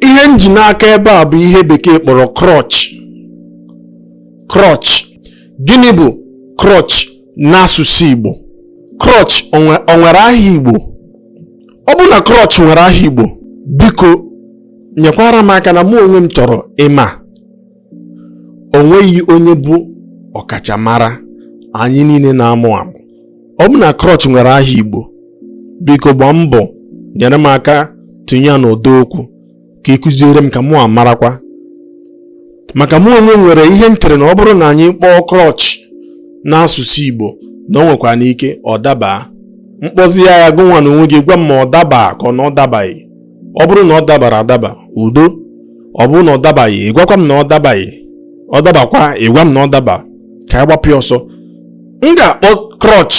ihe m ji n'aka ebe a bụ ihe bekee kpọrọ crutch crutch gịnị bụ crutch n'asụsụ Igbo crutch o nwere aha Igbo ọ bụ na crutch nwere aha Igbo biko nyekwara m aka na mụ onwe m chọrọ ịma o nweghị onye bụ ọkachamara anyị niile na-amụ amụ ọ bụ na crutch nwere aha igbo biko gbaa mbọ nyere m aka tụnye ya n'ụdọ okwu ka ị kụziere m ka mụ amarakwa maka mụ onwe m nwere ihe m chere na ọ bụrụ na anyị kpọọ crutch n'asụsụ igbo na o nwekwanụ ike ọ daba m kpọzie ya aha gụnwa n'onwe gị gwa m ma ọ daba ka ọ na ọ dabaghị ọ bụrụ na ọ dabara adaba udo ọ bụrụ na ọ dabaghị ị gwakwa m na ọ dabaghị ọ dabakwa ị gwa m na ọ daba ka a gbapụ ya ọsọ m ga-akpọ crutch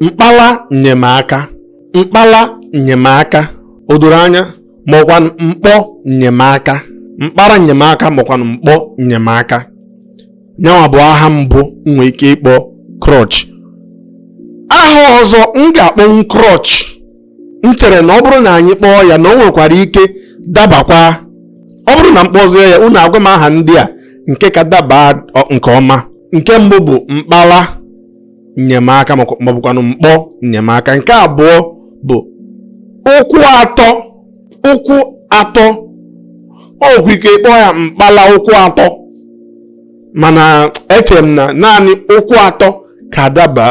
mkpala nnyemaka mkpala nnyemaka o doro anya maọkwanụ mkpọ nnyemaka mkpara nnyemaka maọkwanụ mkpọ nnyemaka nyanwa bụ aha mbụ m nwee ike ịkpọ crutch aha ọzọ m ga-akpọnwu crutch m chere na ọ bụrụ na anyị kpọọ ya na o nwekwara ike dabakwa ọ bụrụ na m kpọzie ya unu agwa m aha ndị a nke ka daba nke ọma nke mbụ bụ mkpala nnyemaka maọbụkwanụ mkpọ nnyemaka nke abụọ bụ ụkwụ atọ ụkwụ atọ o nwekwu ike kpọọ ya mkpala ụkwụ atọ mana eche m na naanị ụkwụ atọ ka daba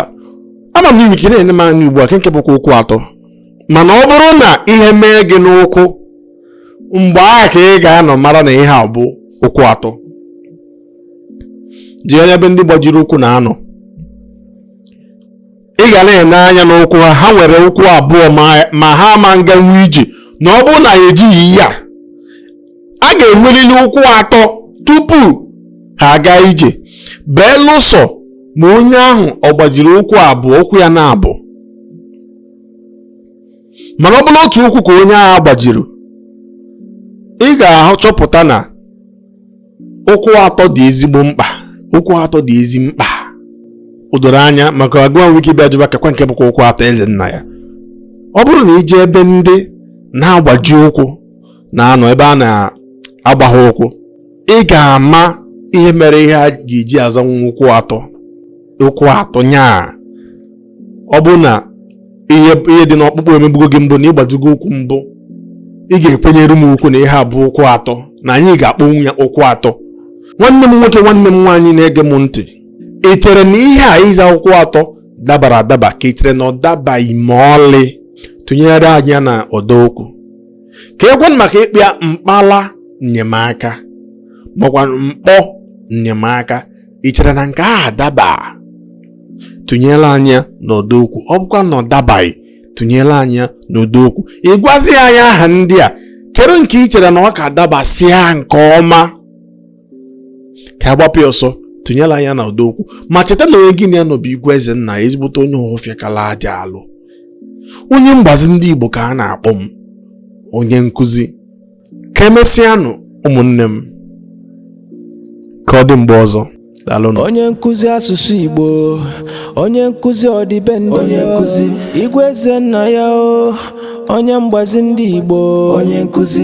ama m i nwee ike na-ene m anya ugbu a kee nke bụkwa ụkwụ atọ mana ọ bụrụ na ihe mee gị n'ụkwụ mgbe ahụ ka ị ga-anọ mara na ihe a bụ ụkwụ atọ jee n'ebe ndị gbajiri ụkwụ na-anọ ị ga na-ene anya n'ụkwụ ha ha nwere ụkwụ abụọ ma- ma ha ama nganwu ije na ọ bụrụ na ya ejighị ihe a a ga-enwerịrị ụkwụ atọ tupu ha aga ije belụsọ ma onye ahụ ọ gbajiri ụkwụ abụọ ụkwụ ya n'abụọ mana ọ bụrụ otu ụkwụ ka onye ahụ gbajiri ị ga-achọpụta na ụkwụ atọ dị ezigbo mkpa ụkwụ atọ dị ezi mkpa o doro anya maka gụwa nwee ike bịa jụba keekwa nke bụkwa ụkwụ atọ eze nna ya ọ bụrụ na i jee ebe ndị na-agbaji ụkwụ na-anọ ebe a na-agba ha ụkwụ ị ga-ama ihe mere ihe a ga-eji azanwu ụkwụ atọ ụkwụ atọ nyaa ọ bụrụ na ihe dị n'ọkpụkpụ emebugo gị mbụ na ị gbajigo ụkwụ mbụ ị ga-ekwenyere m ukwu na ihe a bụ ụkwụ atọ na anyị ga-akpọnwu ya ụkwụ atọ nwanne m nwoke nwanne m nwaanyị na-ege m ntị ị chere na ihe a ịza ụkwụ atọ dabara adaba ka ị chere na ọ dabaghị ma ọlị tụnyere anyị ya n'ọdọ okwu ka e kwuo maka ịkpọ ya mkpala nnyemaka makwa mkpọ nnyemaka ị chere na nke a adaba tụnyere anyị ya n'ọdọ okwu ọ bụkwa na ọ dabaghị tụnyere anyị ya n'ọdọ okwu ị gwazi anyị aha ndị a kpọrọ nke ị chere na ọ ka dabasịa nke ọma ka a gbapụ ya ọsọ tụnyere anyị ya na ọdọ okwu ma cheta na onye gị na ya nọ bụ Igwe Ezennaya ezigbote onye ụhụfịakala aja alụ onye mgbazi ndị Igbo ka a na-akpọ m onye nkụzi ka emesịanụ ụmụnne m ka ọ dị mgbe ọzọ onye nkụzi asụsụ Igbo onye nkụzi ọdịbendị onye nkụzi Igwe Ezennaya o onye mgbazi ndị Igbo onye nkụzi